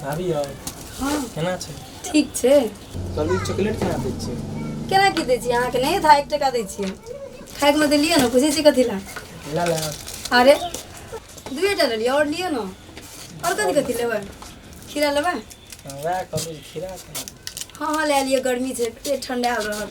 भाभी यौ हँ केना छै ठीक छै कभी चॉकलेट केना दै छियै केना की दै छियै अहाँके नहि था एक टका दै छियै खाइके मे देलियै ने बुझै छियै कथी लए ला ला अरे दुए टा लेलियै आओर लिअ ने आओर कथी कथी लेबै खीरा लेबै वएह कहबै खीरा केना हँ हँ लए लिअ गर्मी छै पेट ठंडायल रहत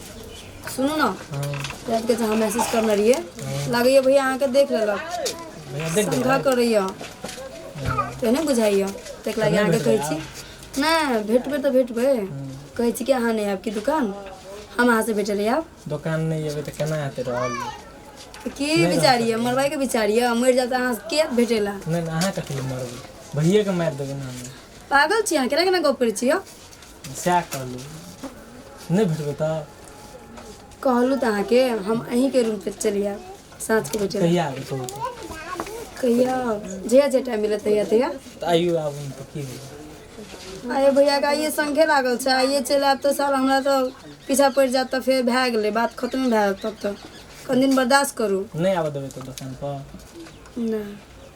सुनू ने रातिके जे अहाँ मैसेज करने रहियै लागैए भैया अहाँके देख लेलक भैया देख देख समझा करैए से नहि बुझाइए ताहिके लागि अहाँके कहै छी नहि भेटबै तऽ भेटबै कहै छी कि अहाँ नहि आयब कि दोकान हम अहाँसँ भेटै लए आयब दोकान नहि जेबै तऽ केना हेतै रहल तऽ की विचार यऽ मरबाइके विचार यऽ मरि जायब तऽ अहाँ के भेटै लए नहि नहि अहाँ कथी लए मरबै भैयेके मारि देबै ने हमे पागल छी अहाँ केना केना गप करै छी यौ सएह कहलहुँ नहि भेटबै तऽ कहलहुँ तऽ अहाँके हम अहीँके रूम पर चलि आयब साँझके बजे कहिया आबै कहू तऽ कहिया जहिया जे टाइम मिलत तहिया तहिया तऽ आइयो आबू ने तऽ की भेलै आइए भैया के आइए संगे लागल छै आइए चलि आयब तऽ साल हमरा तऽ पीछा पड़ि जायत तऽ फेर भए गेलै बात खतमे भए जायत तब तऽ कनि दिन बर्दाश्त करू नहि आबऽ देबै तऽ दोकानपर नहि